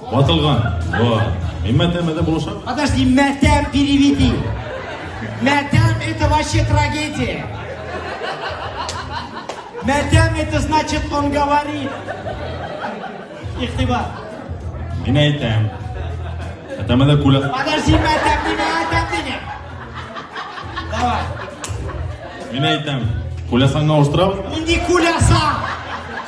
Ватылган. Вот. И мәтәм это булышам. Подожди, мәтәм переведи. Мәтәм это вообще трагедия. Мәтәм это значит он говорит. Ихтиба. Мин әйтәм. Мәтәм это куля. Подожди, мәтәм диме, мәтәм диме. Давай. Мин әйтәм. Кулясаңа устырабыз. Инди куляса.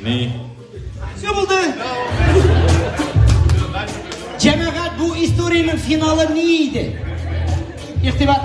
Ни? Все булды. Җәмәгать, бу историянең финалы ни иде? Игътибар.